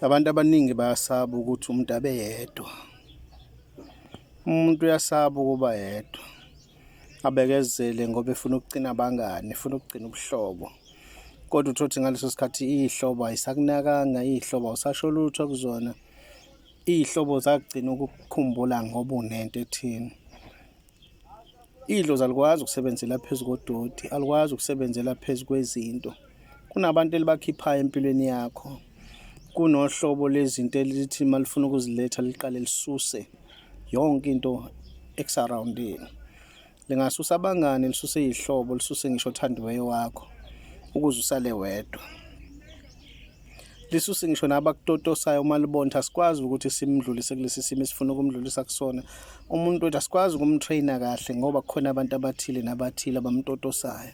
abantu abaningi bayasaba ukuthi umuntu abe yedwa umuntu uyasaba ukuba yedwa abekezele ngoba efuna ukugcina abangani efuna ukugcina ubuhlobo kodwa uthothi ngaleso sikhathi iy'hlobo ayisakunakanga iy'hlobo awusasho lutho kuzona iy'hlobo zagcina ukukukhumbula ngoba unento ethini Idlozi alikwazi ukusebenzela phezu kodoti, alikwazi ukusebenzela phezu kwezinto. Kunabantu elibakhiphayo empilweni yakho. Kunohlobo lezinto elithi uma lifuna ukuziletha liqale lisuse yonke into ekusarowundini. Lingasusa abangani, lisuse izihlobo, lisuse ngisho othandiweyo wakho ukuze usale wedwa. lisuse ngisho nabakutotosayo uma libonta asikwazi ukuthi simdlulise kulesi simo esifuna ukumdlulisa kusona umuntu wethu asikwazi ukumtraina kahle ngoba kukhona abantu abathile nabathile abamtotosayo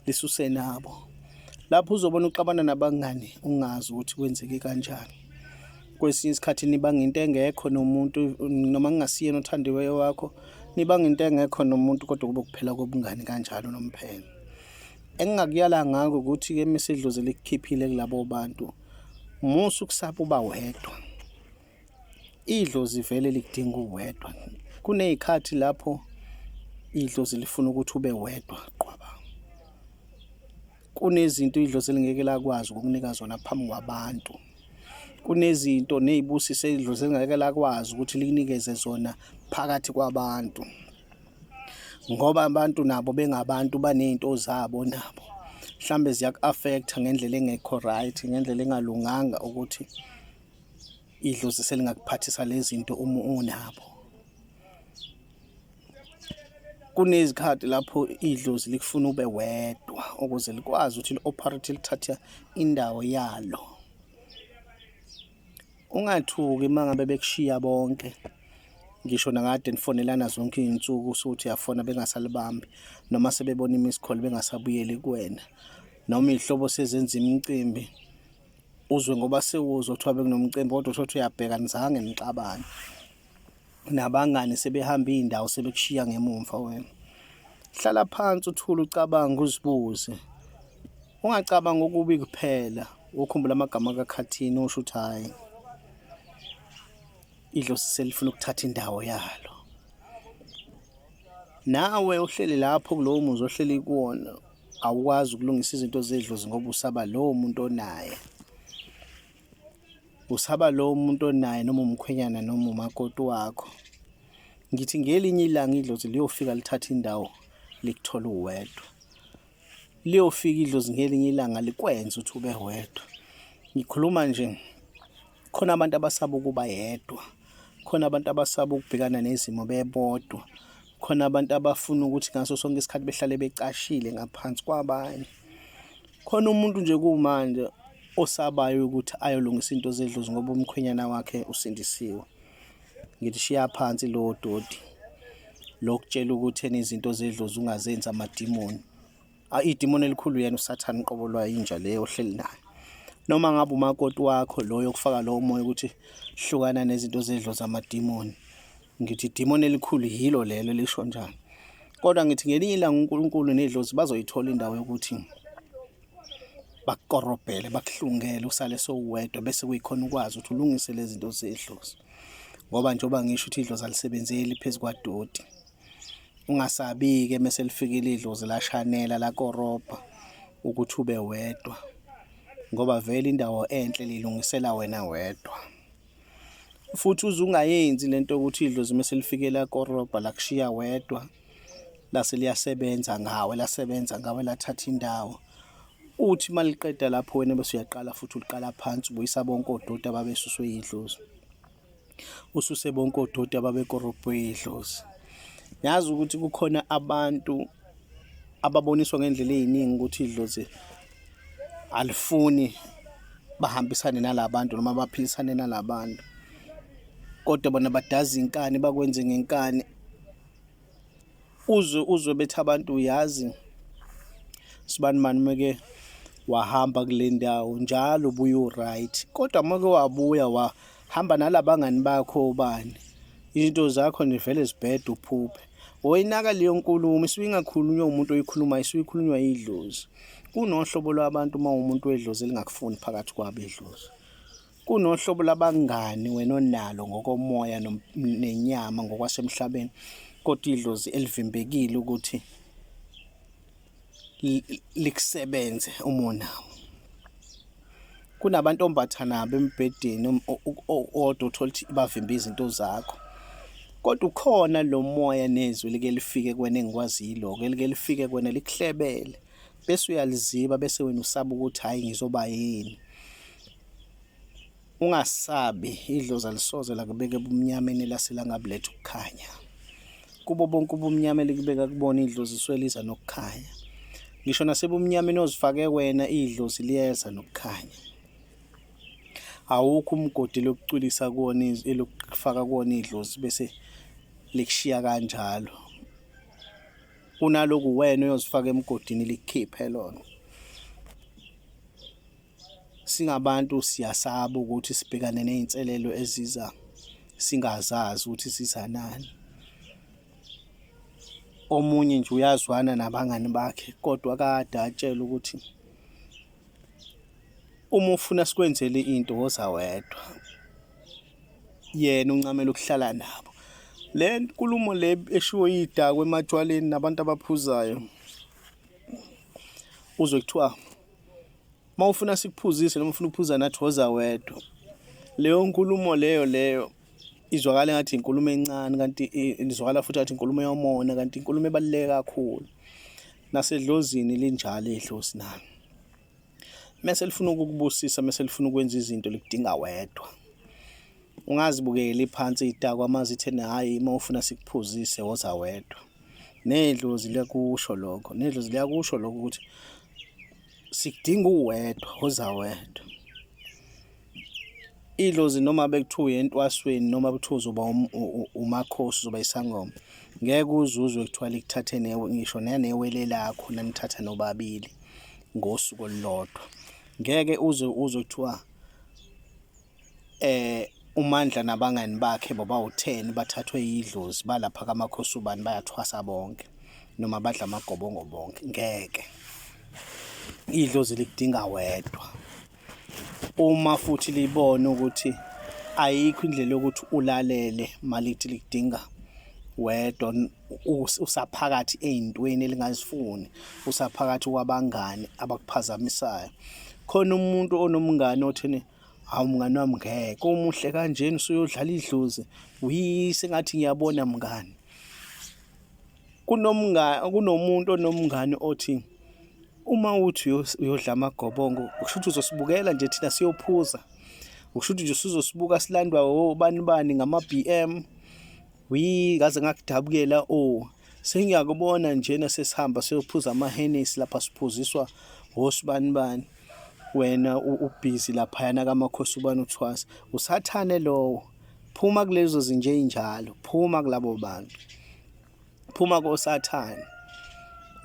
lisuse nabo lapho uzobona uxabana nabangani ungazi ukuthi kwenzeke kanjani kwesinye isikhathi nibanga into engekho nomuntu noma kungasiyena othandiweyo wakho nibanga into engekho nomuntu kodwa kube kuphela kobungani kanjalo nomphelo Engingakuyala ngako ukuthi-ke mesedlozi likukhiphile kulabo bantu musa ukusaba uba wedwa idlozi vele likudinga uwedwa kuney'khathi lapho idlozi lifuna ukuthi ube wedwa qwaba kunezinto idlozi elingeke lakwazi ukukunika zona phambi kwabantu kunezinto ney'busiso idlozi elingeke lakwazi ukuthi likunikeze zona phakathi kwabantu ngoba abantu nabo bengabantu banezinto zabo nabo mhlambe ziyaku-affecta ngendlela engekho right ngendlela engalunganga ukuthi idlozi selingakuphathisa lezi zinto uma unabo kunezikhathi lapho idlozi likufuna ube wedwa ukuze likwazi ukuthi li-operate lithathe indawo yalo Ungathuki uma ngabe bekushiya bonke ngisho nakade nifonelana zonke iy'nsuku usuthi uyafona bengasalibambi noma sebebona imisikhole bengasabuyeli kuwena noma iy'hlobo sezenza imicimbi uzwe ngoba sewuzwa kuthiwa bekunomcimbi kodwa uthotha uyabheka nizange nixabane nabangani sebehamba iy'ndawo sebekushiya ngemumva wena hlala phansi uthule ucabange uzibuze ungacabanga okubi kuphela ukhumbula amagama kakhathini usho ukuthi hhayi idlosi selifuna ukuthatha indawo yalo nawe uhleli lapho kulowo muzi ohleli kuwona awukwazi ukulungisa izinto zedlozi ngoba usaba lowo muntu onaye usaba lo umuntu onaye noma umkhwenyana noma umakoti wakho ngithi ngelinye ilanga idlozi liyofika lithatha indawo likuthola uwedwa liyofika idlozi ngelinye ilanga likwenza ukuthi ube wedwa ngikhuluma nje khona abantu abasaba ukuba yedwa khona abantu abasaba ukubhekana nezimo bebodwa khona abantu abafuna ukuthi ngaso sonke isikhathi behlale becashile ngaphansi kwabanye Khona umuntu nje kumanje osabayo ukuthi ayolungisa into zedlozi ngoba umkhwenyana wakhe usindisiwe. Ngithi shiya phansi lowo dodi lokutshela ukuthi ena izinto zedlozi ungazenzi amadimoni. Idimoni elikhulu yena usathane qobo lwa inja leyo ohleli nayo. Noma ngabe umakoti wakho loyo okufaka lowo moya ukuthi hlukana nezinto zedlozi amadimoni. Ngithi idimoni elikhulu yilo lelo lisho njalo. Kodwa ngithi ngelinye ilanga uNkulunkulu nedlozi bazoyithola indawo yokuthi bakukorobhele bakuhlungele usale sowedwa bese kuyikhona ukwazi ukuthi ulungise lezi zinto zedlozi ngoba njengoba ngisho ukuthi idlozi alisebenzeli phezu kwadoti ungasabi-ke mese lifikile idlozi lashanela lakorobha ukuthi ube wedwa ngoba vele indawo enhle lilungisela wena wedwa futhi uze ungayenzi lento ukuthi idlozi uma selifikela korobha lakushiya wedwa lase liyasebenza ngawe lasebenza ngawe lathatha indawo uthi maliqeda lapho wena bese uyaqala futhi uliqala phansi ubuyisa bonke odoti ababesuswe yidlozi ususe bonke odoti ababekorobhwe yidlozi ngiyazi ukuthi kukhona abantu ababoniswa ngendlela eziningi ukuthi idlozi alifuni bahambisane nalabantu noma baphilisane nalabantu kodwa bona badaza inkani bakwenze ngenkani uzwe uzwe bethi abantu uyazi sibani mani meke wahamba kule ndawo njalo ubuye uright kodwa uma ke wabuya wa hamba nalabangani bakho ubani izinto zakho nivele zibhede uphuphe woyinaka leyo nkulumo isuke ingakhulunywa umuntu oyikhuluma isuke ikhulunywa idlozi kunohlobo lwabantu uma umuntu wedlozi elingakufuni phakathi kwabo idlozi kunohlobo labangani wena onalo ngokomoya nenyama ngokwasemhlabeni kodwa idlozi elivimbekile ukuthi likusebenze umona kunabantu ombathana nabo embhedeni odwa uthola ukuthi bavimba izinto zakho kodwa ukhona lo moya nezwi like lifike kwena engikwaziyo lokho elike lifike kwena likuhlebele bese uyaliziba bese wena usaba ukuthi hayi ngizoba yini Ungasabi, idlozi alisoze lakubeka ebumnyameni lase langabuletha ukukhanya. Kubo bonke ubumnyama elikubeka kubona idlozi isuke liza nokukhanya. Ngisho nasebumnyameni ozifake wena idlozi liyeza nokukhanya. Awukho umgodi lokucwilisa kuwona elokufaka kuwona idlozi bese likushiya kanjalo. Kunaloku wena uyozifaka emgodini likhiphe lona. Singabantu siyasaba ukuthi sibhekane nezinselelo eziza singazazi ukuthi sizanani. Omunye nje uyazwana nabangani bakhe kodwa kade atshela ukuthi uma ufuna sikwenzele into woza wedwa. Yena uncamela ukuhlala nabo. Le nkulumo le eshiwo yidakwe ematshwaleni nabantu abaphuzayo uzwe kuthiwa uma ufuna sikuphuzise noma ufuna ukuphuza nathi woza wedwa leyo nkulumo leyo leyo izwakala ngathi inkulumo encane kanti izwakala futhi ngathi inkulumo yomona kanti inkulumo ebaluleke kakhulu nasedlozini linjalo idlozi nalo mese lifuna ukukubusisa mese lifuna ukwenza izinto likudinga wedwa Ungazibukeli phansi idakwa uma zithe hhayi uma ufuna sikuphuzise woza wedwa. Nedlozi liyakusho lokho, nedlozi liyakusho lokho ukuthi sikudinga uwedwa, woza wedwa. Idlozi noma bekuthiwa uye entwasweni noma kuthiwa uzoba um-, umakhosi uzoba isangoma ngeke uzuzwe kuthiwa likuthathe newe ngisho nanewele lakho nanithatha nobabili ngosuku olulodwa ngeke uze uzwe kuthiwa eh uMandla nabangani bakhe bobawutheni bathathwe yidlozi balapha kamakhosi ubani bayathwasa bonke noma badla amagobongo bonke ngeke idlozi likudinga wedwa uma futhi libone ukuthi ayikho indlela yokuthi ulalele malithi likudinga wedwa usaphakathi ezintweni elingazifuni usaphakathi kwabangani abakuphazamisayo khona umuntu onomngane othini Hawu mngani wami ngeke umuhle kanjena usuyodlala idlozi. Wi sengathi ngiyabona mngani. Kunomngani kunomuntu onomngani othi uma uthi uyodla amagobongo kusho ukuthi uzosibukela nje thina siyophuza. Kusho ukuthi nje usuzosibuka silandwa obani bani ngama-BM. Wi ngaze ngakudabukela o. Sengiyakubona njena sesihamba siyophuza amahenesi lapha siphuziswa wosibanibani wena ubhizi laphayana kamakhosi ubani uthwasa usathane lowo phuma kulezo zinje injalo phuma kulabo bantu phuma kosathane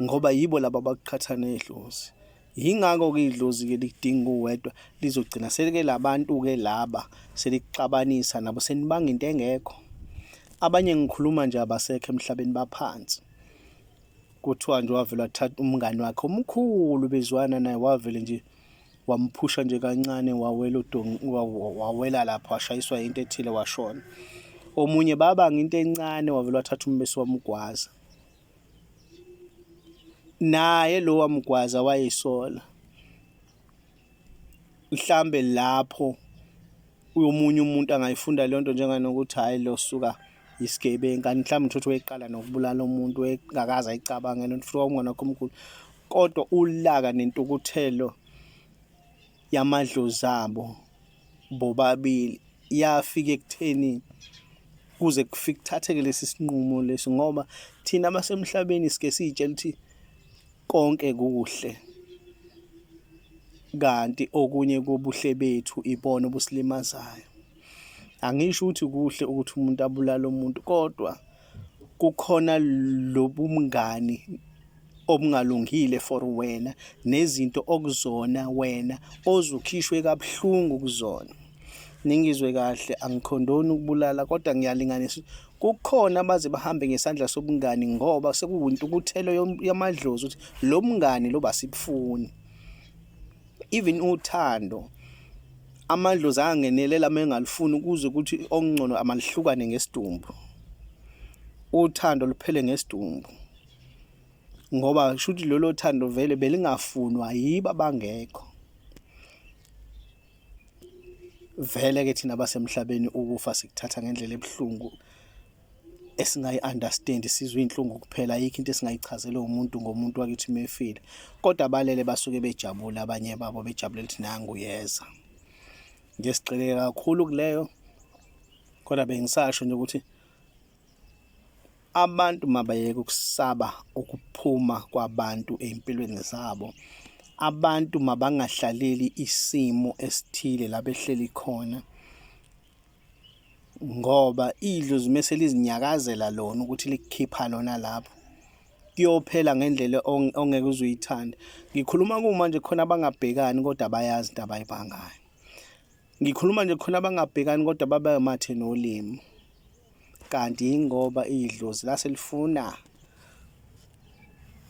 ngoba yibo laba abakuqhatha nedlozi Yingakho-ke idlozi-ke likudinga uwedwa lizogcina selike labantu-ke laba selikuxabanisa nabo senibanga into engekho abanye ngikhuluma nje abasekho emhlabeni baphansi kuthiwa nje wavele wathatha umngani wakhe omkhulu bezwana naye wavele nje wamphusha nje kancane wawela udongi wawela lapho washayiswa into ethile washona omunye babanga into encane wavele wathatha umbese wamgwaza naye lowa mgwaza wayesola mhlambe lapho uyomunye umuntu angayifunda leyo nto njenganokuthi hhayi lo suka yisigebengu kanti mhlawumbe uthotho weqala nokubulala umuntu engakaze ayicabangele nto futhi kwakungonakho omkhulu kodwa ulaka nentukuthelo yamadlozi abo bobabili yafika ekutheni kuze kufike kuthatheke lesi sinqumo lesi ngoba thina abasemhlabeni sike siyitshela ukuthi konke kuhle kanti okunye kobuhle bethu ibona obusilimazayo. angisho ukuthi kuhle ukuthi umuntu abulale umuntu kodwa kukhona lobumngani obungalungile for wena nezinto okuzona wena ozukhishwe kabuhlungu kuzona ningizwe kahle angikhondoni ukubulala kodwa ngiyalinganisa kukhona abaze bahambe ngesandla sobungani ngoba sekuwintukuthelo yamadlozi ukuthi lo mngani lo basibufuni even uthando amandlozi angenelela uma engalifuni ukuze ukuthi okungcono amalihlukane ngesidumbu uthando luphele ngesidumbu ngoba shuthi lolo thando vele belingafunwa yibo abangekho vele ke thina basemhlabeni ukufa sikuthatha ngendlela ebuhlungu esingayi-understand sizwe iy'nhlungu kuphela ayikho into esingayichazela umuntu ngomuntu wakithi uma efile kodwa abalele basuke bejabule abanye babo bejabule ukuthi nangu yeza ngesigxileke kakhulu kuleyo kodwa bengisasho nje ukuthi abantu mabayeke ukusaba ukuphuma kwabantu ey'mpilweni zabo abantu mabangahlaleli isimo esithile la behleli khona ngoba idlozi mese lizinyakazela lona ukuthi likukhipha lona lapho kuyophela ngendlela ongeke uzuyithande ngikhuluma kumanje khona abangabhekani kodwa bayazi into abayibhangayo ngikhuluma nje khona abangabhekani kodwa babe mathe nolimi kanti yingoba idlozi lase lifuna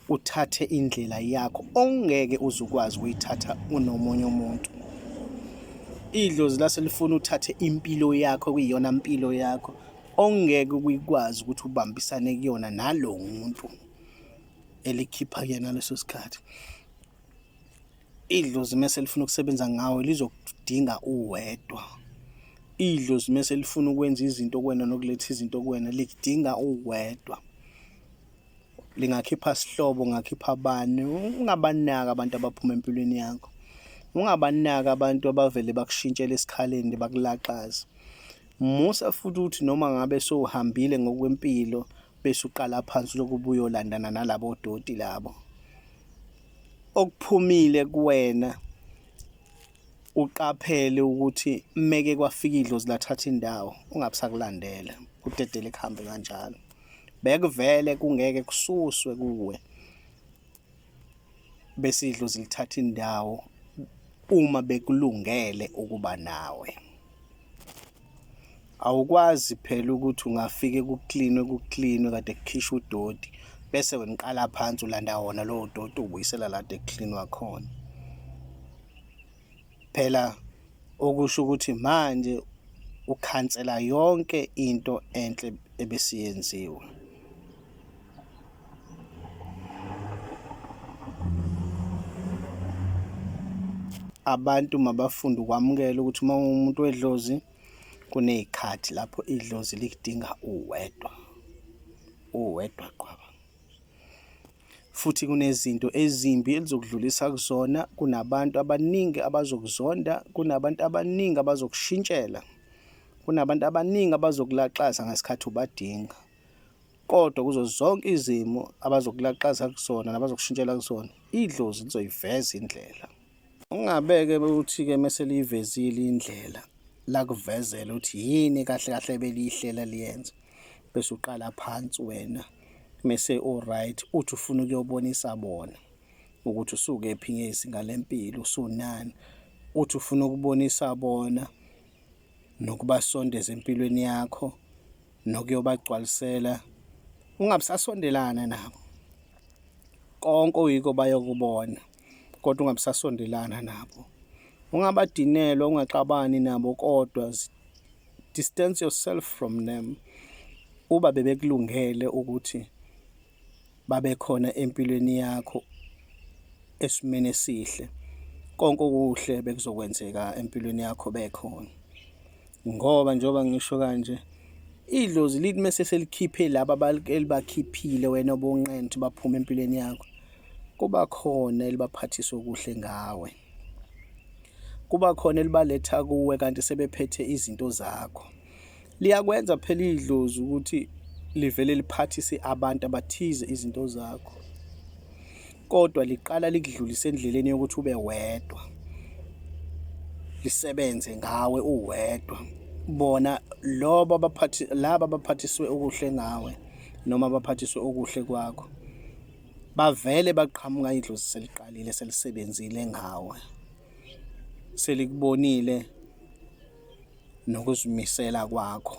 uthathe indlela yakho ongeke uzukwazi ukuyithatha unomunye umuntu idlozi lase lifuna uthathe impilo yakho kuyiyona mpilo yakho ongeke ukuyikwazi ukuthi ubambisane kuyona nalo muntu elikhipha yena leso sikhathi Idlozi mese lifuna ukusebenza ngawe lizokudinga uwedwa. Idlozi mese lifuna ukwenza izinto kuwena nokuletha izinto kuwena likudinga uwedwa. Lingakhipha sihlobo, ngakhipha bani, ungabanaki abantu abaphuma empilweni yakho. Ungabanaki abantu abavele bakushintshele esikhaleni bakulaxaze. Musa futhi ukuthi noma ngabe sowuhambile ngokwempilo bese uqala phansi lokubuyolandana nalabo doti labo. okuphumile kuwena uqaphele ukuthi meke kwafika idlozi lathatha indawo ungabusakulandela kudedele kuhambe kanjalo bekuvele kungeke kususwe kuwe bese idlozi lithatha indawo uma bekulungele ukuba nawe awukwazi phela ukuthi ungafike kuklinwe kuklinwe kade kukhishwa udoti bese wena uqala phansi ulanda wona lowo doti ubuyisela lade kucleanwa khona phela okusho ukuthi manje ukhansela yonke into enhle ebesiyenziwe abantu mabafunde ukwamukela ukuthi uma umuntu wedlozi kunezikhathi lapho idlozi likudinga uwedwa uwedwa qwaba futhi kunezinto ezimbi elizokudlulisa kuzona kunabantu abaningi abazokuzonda kunabantu abaningi abazokushintshela kunabantu abaningi abazokulaxaza ngesikhathi ubadinga Kodwa kuzo zonke izimo abazokulaxaza kusona nabazokushintshela kusona, idlozi lizoyiveza indlela. Ungabeke ukuthi-ke mese liyivezile indlela lakuvezela ukuthi yini kahle kahle beliyihlela liyenze bese uqala phansi wena mese uright uthi ufuna ukuyobonisa bona ukuthi usuke phi ngezinga lempilo usunani uthi ufuna ukubonisa bona nokubasondeza empilweni yakho nokuyobagcwalisela ungabusasondelana nabo konke oyiko bayokubona kodwa ungabusasondelana nabo ungabadinelwa ungaxabani nabo kodwa distance yourself from them uba bebekulungele ukuthi babe khona empilweni yakho esimeni esihle konke okuhle bekuzokwenzeka empilweni yakho bekhona ngoba njengoba ngisho kanje idlozi lithi mese selikhiphe laba elibakhiphile wena obonqenthe baphuma empilweni yakho kuba khona elibaphathisa okuhle ngawe kuba khona elibaletha kuwe kanti sebephethe izinto zakho liyakwenza phela idlozi ukuthi livele liphathise abantu abathize izinto zakho kodwa liqala likudlulise endleleni yokuthi ube wedwa lisebenze ngawe uwedwa bona lobo abaphathi laba abaphathiswe okuhle ngawe noma abaphathiswe okuhle kwakho bavele baqhamuka idlozi seliqalile selisebenzile ngawe selikubonile nokuzimisela kwakho